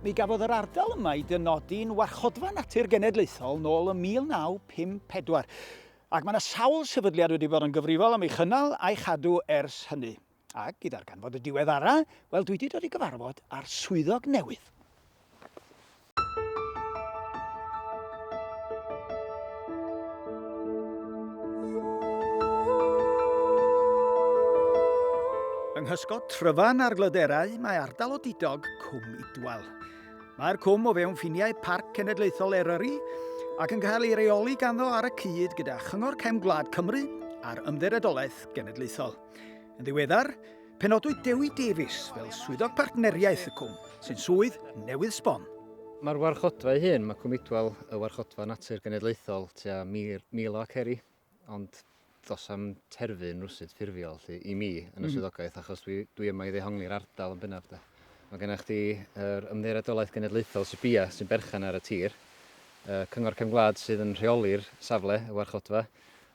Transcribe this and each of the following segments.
Mi gafodd yr ardal yma ei dynodi'n Warchodfa Natur Genedlaethol nôl ym 1954, ac mae yna sawl sefydliad wedi bod yn gyfrifol am ei chynnal a'i chadw ers hynny. Ac i ddarganfod y diweddara, wel dwi wedi dod i gyfarfod â'r swyddog newydd. Yng nghysgod tryfan ar glyderau, mae ardal o didog, Cwm Idwal. Mae'r cwm o fewn ffiniau Parc Cenedlaethol Eryri ac yn cael ei reoli ganddo ar y cyd gyda Chyngor Cefn Gwlad Cymru a'r Ymddiriedolaeth Genedlaethol. Yn ddiweddar, penodwyd Dewi Davies fel swyddog partneriaeth y cwm, sy'n swydd newydd sbon. Mae'r warchodfa ei hun, mae Cwm Idwal y warchodfa natur genedlaethol tua 1,000 o aceri Ond does am terfyn rwsut ffurfiol lly, i mi yn y mm -hmm. swyddogaeth achos dwi, dwi yma i ddehongli'r ardal yn bennaf de. Mae gennych chdi yr ymddiriedolaeth genedlaethol Sibia sy'n berchen ar y tir, y cyngor cefn gwlad sydd yn rheoli'r safle, y warchodfa,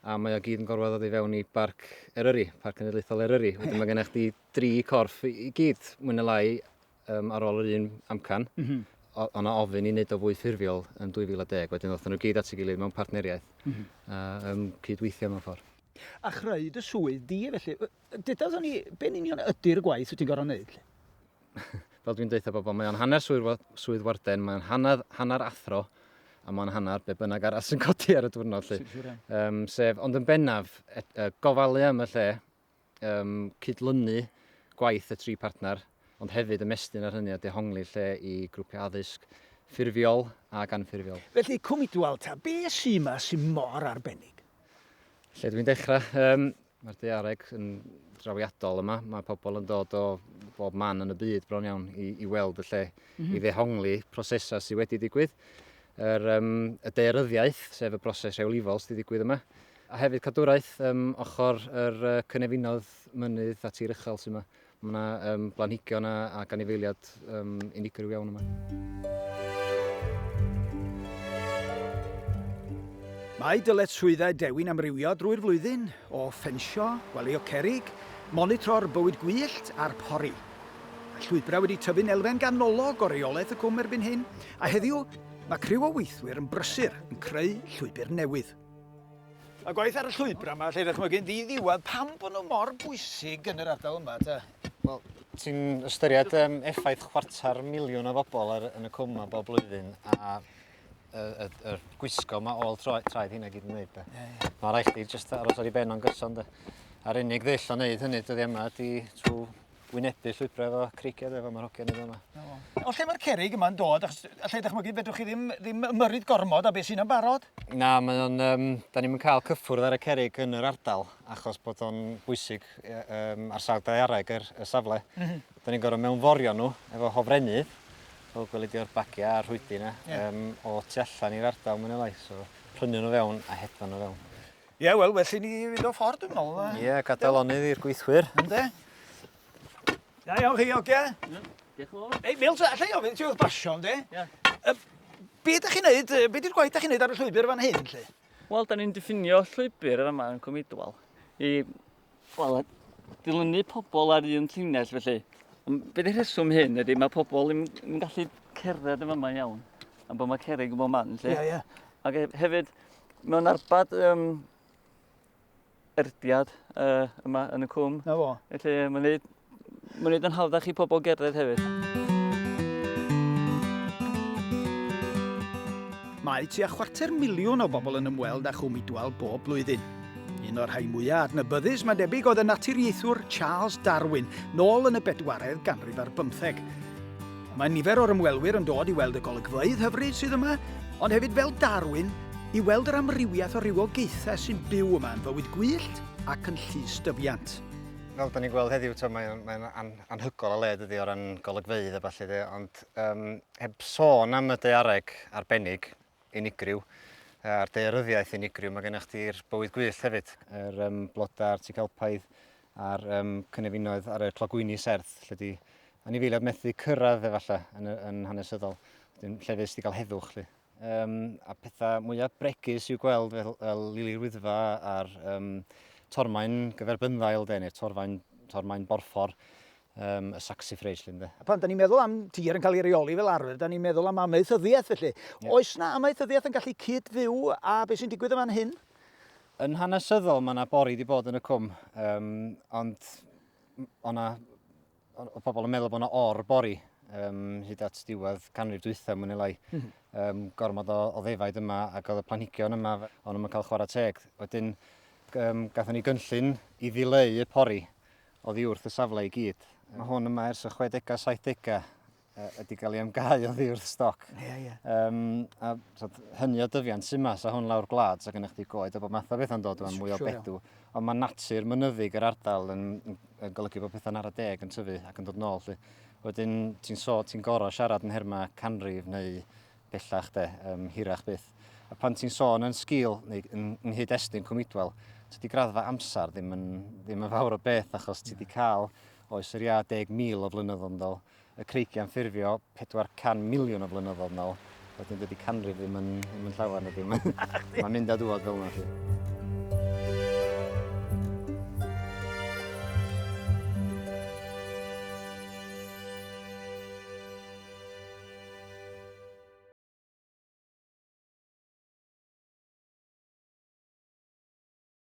a mae o gyd yn gorfod ddod i fewn i barc Eryri, parc cenedlaethol Eryri. Wedyn mae gennych chdi dri corff i gyd, mwyn y lai, um, ar ôl yr un amcan, mm -hmm. o na ofyn i wneud o fwy ffurfiol yn 2010. Wedyn oedd nhw gyd at ei gilydd mewn partneriaeth mm -hmm. a um, cydweithio mewn ffordd. A chreu dy swydd di, e, felly. Dydawson ni, be'n union ydy'r gwaith wyt ti'n gorau wneud? Fel dwi'n deitha bobl, mae o'n hanner swydd, swydd warden, mae o'n hanner, hanner athro, a mae'n hanner be bynnag arall sy'n codi ar y diwrnod. Lly. Um, sef, ond yn bennaf, et, uh, gofalu am y lle, um, cydlynu gwaith y tri partner, ond hefyd ymestyn ar hynny a dehongli lle i grwpiau addysg ffurfiol ac anffurfiol. Felly, Cwmni Dualta, be sy'n yma sy'n mor arbennig? Lle dwi'n dechrau? Um, Mae'r deareg yn drawiadol yma. Mae pobl yn dod o bob man yn y byd bron iawn i, i weld y lle, mm -hmm. i mhm. ddehongli prosesau sydd wedi digwydd. Yr, um, y deiryddiaeth, sef y broses rhewlifol sydd wedi digwydd yma, A hefyd cadwraeth ym ochr yr cynefinoedd mynydd a tir uchel sydd yma. Mae yna um, blanhigion a, a ganifeiliad um, unigryw iawn yma. Mae dyletswyddau Dewi'n amrywio drwy'r flwyddyn, o ffensio, gwelio cerig, monitro'r bywyd gwyllt a'r pori. Mae llwybrau wedi tyfu'n elfen ganolog o reolaeth y cwm erbyn hyn, a heddiw mae criw o weithwyr yn brysur yn creu llwybr newydd. Mae gwaith ar y llwybra yma, lle ddychmygu'n ddi-ddiwedd pam bod nhw mor bwysig yn yr ardal yma, te? Wel, ti'n ystyried um, effaith chwarter miliwn o bobl ar, yn y cwm yma bob blwyddyn, a y, y, y gwisgo yma ôl tro, traed hynna gyd yn dweud. Yeah, yeah. Mae rhaid chdi just aros ar ei ben o'n gyson, de. A'r unig ddeill o wneud hynny dyddi yma ydy trwy wynebu llwybrau efo creigedd efo mae'r hogyn efo yma. O lle mae'r cerig yma'n dod? Achos allai dychmygu fedrwch chi ddim, ddim ymyrryd gormod a beth sy'n yn barod? Na, mae o'n, um, da ni'n cael cyffwrdd ar y cerig yn yr ardal achos bod o'n bwysig um, ar sawl daeareg yr, y safle. Mm -hmm. Da ni'n gorfod mewnforio nhw efo hofrennydd, fel gwelid o'r bagiau a'r rhwydi yna, yeah. um, o tu allan i'r ardal mwyn elai. So, prynu nhw fewn a hedfan nhw fewn. Ie, wel, well i ni fynd o ffordd, dwi'n meddwl. Ie, yeah, gadael onydd i'r gweithwyr. Ynde? Da iawn chi, oge? Ie, diolch yn fawr. Ei, fel ta, allai ofyn ti oedd basio, ynde? Ie. Be ydych chi'n neud, be ydy'r gwaith ydych chi'n neud ar y llwybr fan hyn, lle? Wel, da ni'n diffinio llwybr yr yma yn Cwmidwal i Wel, dilynu pobl ar un llinell felly. Be di rheswm hyn ydy, mae pobl yn, yn gallu cerdded yn yma iawn. Am bod mae cerig yn bod man, lle. Ie, ie. Ac e, hefyd, mewn arbad um, erdiad uh, yma yn y cwm. Na fo. Felly, mae'n gwneud Mae'n gwneud yn hawddach i pobl gerdded hefyd. Mae tua chwarter miliwn o bobl yn ymweld â Chwm Idwal bob blwyddyn. Un o'r rhai mwyaf adnabyddus, mae'n debyg, oedd y naturiaethwr Charles Darwin, nôl yn y bedwaredd ganrif ar bymtheg. Mae nifer o'r ymwelwyr yn dod i weld y golygfeydd hyfryd sydd yma, ond hefyd fel Darwin, i weld yr amrywiaeth o rywogaethau sy'n byw yma yn fywyd gwyllt ac yn llys dyfiant. Fel da ni'n gweld heddiw, mae'n mae an, anhygol o le dydy o ran golygfeydd a falle de, ond um, heb sôn am y deareg arbennig unigryw, a'r dearyddiaeth unigryw, mae gennych chi'r bywyd gwyllt hefyd, yr um, blodau a'r tigalpaidd a'r um, cynefinoedd ar y clogwyni serth, lle di anifeiliaid methu cyrraedd efallai yn, yn hanesyddol, lle fes di gael heddwch. Lle. Um, a pethau mwyaf bregus i'w gweld fel, fel lili'r wyddfa a'r um, torfaen gyferbynddail, neu'r torfaen, torfaen borffor um, y saxifrage llun de. Pan da ni'n meddwl am tir yn cael ei reoli fel arfer, da ni'n meddwl am amaethyddiaeth felly. Yeah. Oes na amaethyddiaeth yn gallu cyd-fyw a beth sy'n digwydd yma'n hyn? Yn hanesyddol mae yna bori wedi bod yn y cwm, um, ond o'na Oedd pobl yn meddwl bod yna or bori um, hyd at diwedd canrif dwythau mwyn elai. Mm -hmm. um, gormod o, o ddefaid yma ac oedd y planhigion yma, ond yma'n cael chwarae teg. Wedyn, um, gatho ni gynllun i ddileu y pori oddi wrth y safle i gyd. Mae hwn yma ers y 60au, 70au, ydy gael ei amgau oddi wrth stoc. Ie, ie. Um, a tod, hynny o dyfiant sy'n mas a hwn lawr gwlad, so gennych chi goed a bod math o beth yn dod o'n mwy o bedw. Ond mae natur mynyddig yr ardal yn, yn golygu bod pethau'n ar y deg yn tyfu ac yn dod nôl. Lly. Wedyn ti'n so, ti'n gorau siarad yn herma canrif neu bellach de, um, hirach byth. A pan ti'n sôn yn sgil neu yn, yn hyd estyn cwmidwel, tydi graddfa amser ddim yn, ddim yn fawr o beth achos ti wedi cael oes yr ia 10,000 o flynyddoedd yn ddol y creigiau'n ffurfio 400 miliwn o flynyddoedd nôl. Wedyn dydy canrif ddim yn, ddim yn llawer na ddim. Mae'n mynd a dŵad fel yna chi.